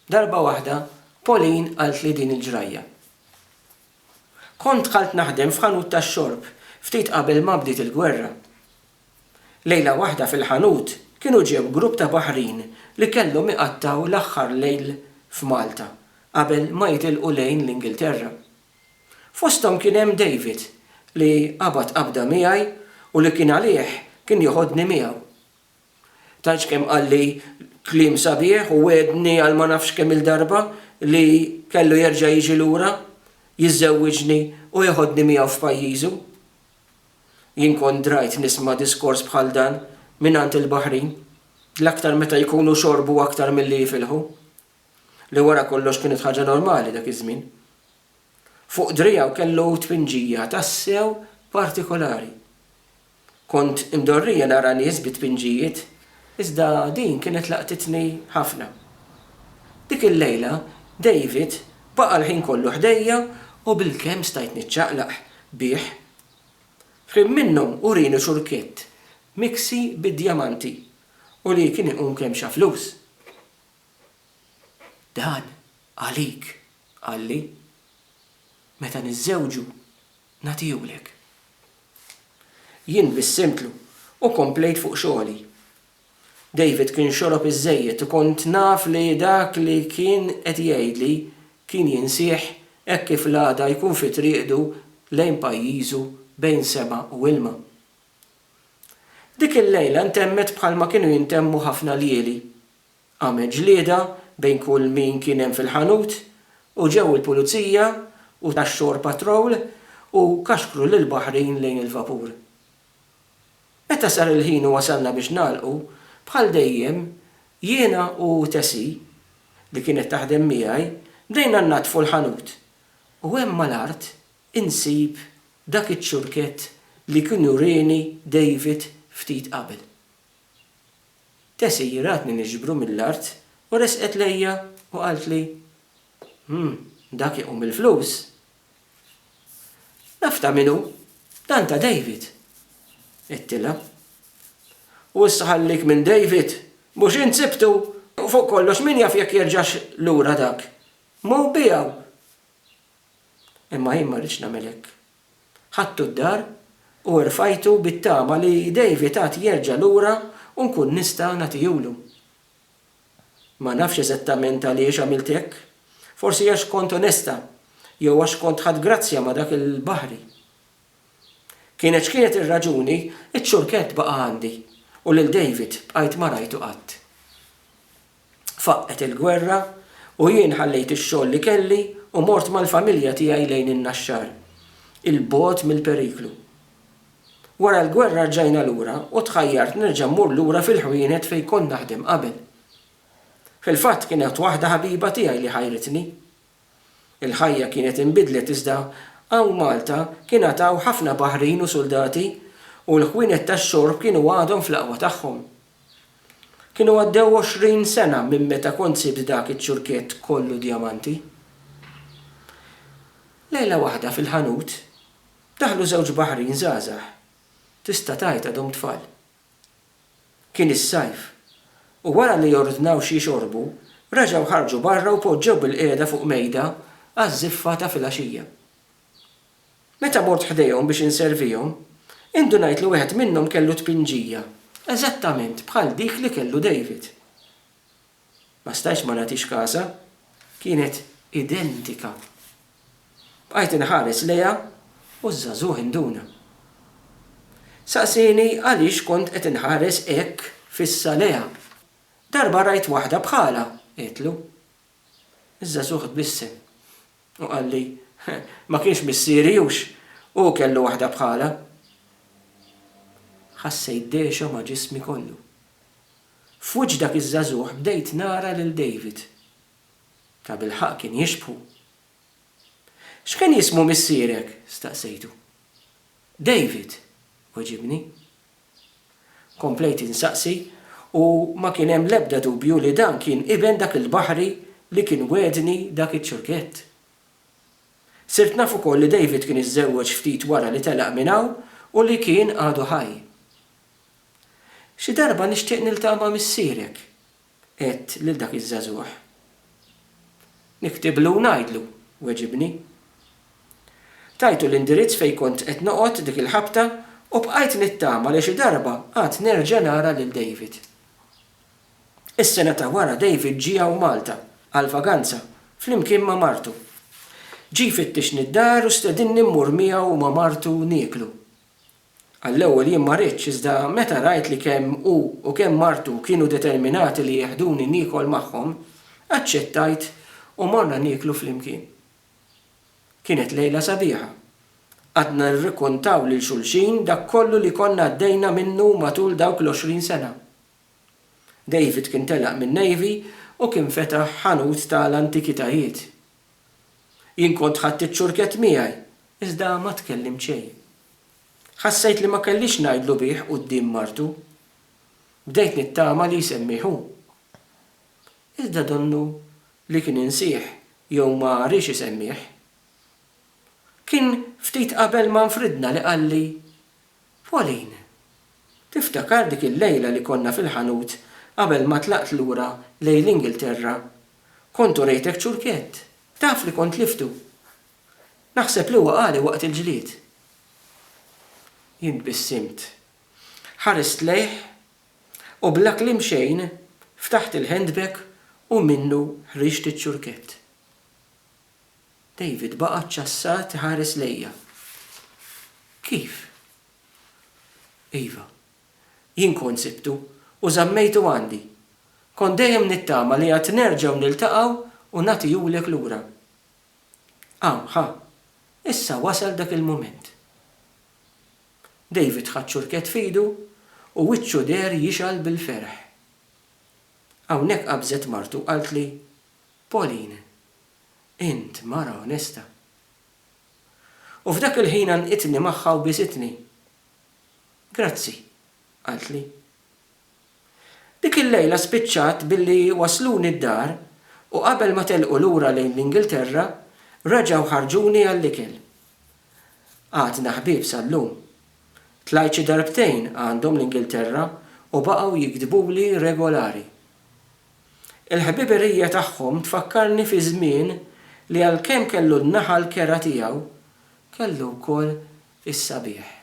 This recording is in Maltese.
Darba waħda Pauline qaltli din il-ġrajja, Kont dħalt naħdem f'ħanut tax-xorb ftit qabel ma bdiet il-gwerra. Lejla waħda fil-ħanut kienu ġew grupp ta' baħrin li kellhom iqattgħu l-aħħar lejl f'Malta qabel ma jitilqu lejn l-Ingilterra. Fosthom kien hemm David li qabad qabda miegħi u li kien għalih kien joħodni miegħu. Tantx kemm qalli kliem sabiħ u wegħedni għal ma nafx kemm-il darba li kellu jerġa' jiġi lura, jiżżewwiġni u jeħodni miegħu f'pajjiżu. Jien kont drajt nisma' diskors bħal dan mingħand il-Baħrin, l-aktar meta jkunu xorbu aktar milli jifilħu, li wara kollox kienet ħaġa normali dak iż-żmien. Fuq driegħu kellu tpinġija tassew partikolari. Kont imdorrija nara nies bi tpinġijiet, iżda din kienet laqtitni ħafna. Dik il-lejla, David baqa' l-ħin kollu ħdejja u bilkemm stajt niċċaqlaq bih. F'ħin minnhom urini ċurkett miksi bid-djamanti u li kien iqum kemm xa flus. Dan għalik, qalli. Meta niżżewġu, Nagħtihulek. Jien bissimtlu u komplejt fuq xogħli. David kien xorob iżżejjed u kont naf li dak li kien qed jgħidli kien jinsieh hekk kif l-għada jkun fi triqdu lejn pajjiżu bejn sema u ilma. Dik il-lejla ntemmet bħalma kienu jintemmu ħafna ljieli. Qamet ġlieda bejn kull min kien hemm fil-ħanut u ġew il-pulizija u tax-shore patrol u kaxkru lil Bahrain lejn il-vapur. Meta sar il-ħin u wasalna biex nagħlqu, bħal dejjem, jiena u Tessie, li kienet taħdem miegħi, bdejna nnaddfu l-ħanut u hemm mal-art insib dak iċ-ċurkett li kien urieni David ftit qabel. Tessie jiratni niġbru mill-art u resqet lejja u qaltli, Hm, dak iqum il-flus! Naf ta' min hu, dan ta' David! għedtilha. U issa ħallik minn David, mhux int sibtu! U fuq kollox min jaf jekk jerġax lura dak! Mhu biegħu! Imma jien ma rridx nagħmel hekk, Ħadtu d-dar u rfajtu bit-tama li David għad jerġa' lura u nkun nista' nagħtihulu. Ma nafx eżattament għaliex għamilt hekk. Forsi għax kont onesta jew għax kont ħadt grazzja ma' dak il-baħri. Kienet x'kienet ir-raġuni, iċ-ċurkett baqa' għandi u lil David bqajt ma rajtu qatt. Faqqgħet il-gwerra u jien ħallejt ix-xogħol li kelli u mort mal-familja tiegħi lejn in-Naxxar, 'il bogħod mill-periklu. Wara l-gwerra rġajna lura u tħajjart nerġa' mmur lura fil-ħwienet fejn kont naħdem qabel. Fil-fatt kienet waħda ħabiba tiegħi li ħajritni. Il-ħajja kienet inbidlet iżda hawn Malta kien għad hawn ħafna baħrin u suldati u l-ħwienet tax-xorb kienu għadhom fl-aqwa tagħhom. Kienu għaddew għoxrin sena minn meta kont sibt dak iċ-ċurkett kollu djamanti. Lejla waħda fil-ħanut, daħlu żewġ baħrin żgħażagħ, tista' tgħid għadhom tfal. Kien is-sajf, u wara li ordnaw xi jxorbu, reġgħu ħarġu barra u poġġew bilqiegħda fuq mejda għaż-żiffa ta' filgħaxija. Meta mort ħdejhom biex inservihom, indunajt li wieħed minnhom kellu tpinġija eżattament bħal dik li kellu David. Ma stajtx ma nagħtix kasha, kienet identika. Bqajt inħares lejha u ż-żagħżugħ induna. Saqsieni għaliex kont qed inħares hekk fissa lejha. Darba rajt waħda bħalha, għedtlu. Iż-żagħżugħ tbissem u qalli, Ma kienx missieri hux hu kellu waħda bħalha? Ħassejt dehxa ma' ġismi kollu. F'wiċċ dak iż-żagħżugħ bdejt nara lil David. Tabilħaqq kien jixbħu. X'kien jismu missierek? staqsejtu. David, weġibni. Komplejt insaqsi u ma kien hemm l-ebda dubju li dan kien iben dak il-baħri li kien wegħedni dak iċ-ċurkett. Sirt naf ukoll li David kien iżżewweġ ftit wara li telaq minn hawn u li kien għadu ħaj. Xi darba nixtieq niltaqa' ma' missierek, Għedt lil dak iż-żagħżugħ. Niktiblu u ngħidlu, weġibni. Tajtu l-indirizz fejn kont qed noqgħod dik il-ħabta u bqajt nittama li xi darba għad nerġa' nara lil David. Is-sena ta' wara David ġie hawn Malta għall-vaganza flimkien ma' martu. Ġie jfittixni d-dar u stedinni mmur miegħu u ma' martu nieklu. Għall-ewwel jien ma ridtx, iżda meta rajt li kemm hu u kemm martu kienu determinati li jeħduni niekol magħhom, aċċettajt u morna nieklu flimkien. Kienet lejla sabiħa. Qgħadna nirrikuntaw lil xulxin dak kollu li konna għaddejna minnu matul dawk l-għoxrin sena. David kien telaq min-Navy u kien fetaħ ħanut ta' l-antikitajiet. Jien kont ħadt iċ-ċurkett miegħi, iżda ma tkellimt xejn. Ħassejt li ma kellix ngħidlu bih quddiem martu. Bdejt nittama li jsemmih hu. Iżda donnu li kien insieh jew ma riex isemmih. Kien ftit qabel ma nfridna li qalli, Pauline, Tiftakar dik il-lejla li konna fil-ħanut qabel ma tlaqt lura lejn l-Ingilterra? Kont urejtek ċurkett. Taf li kont liftu. Naħseb li waqagħli waqt il-ġlied. Jien tbissimt. Ħarist lejh u bla kliem xejn ftaħt il-handbag u minnu ħriġt iċ-ċurkett. David baqa' ċċassat iħares lejja. Kif? Iva. Jien kont sibtu u żammejtu għandi. Kont dejjem nittama li għad nerġgħu niltaqgħu u nagħtihulek lura. Hawn, ħa, issa wasal dak il-mument. David ħa ċ-ċurkett f'idu u wiċċu deher jixgħal bil-ferħ. Hawnhekk qabżet martu u qaltli, Pauline, Int mara onesta. U f'dak il-ħin għannqitni magħha u bisitni. Grazzi, qaltli. Dik il-lejla spiċċat billi wassluni d-dar u qabel ma telqu lura lejn l-Ingilterra reġgħu ħarġuni għall-ikel. Għadna ħbieb sal-lum. Tlajt xi darbtejn għandhom l-Ingilterra u baqgħu jiktbuli regolari. Il-ħbiberija tagħhom tfakkarni fi żmien li għalkemm kellu n-naħa l-kerha tiegħu, kellu wkoll is-sabiħ.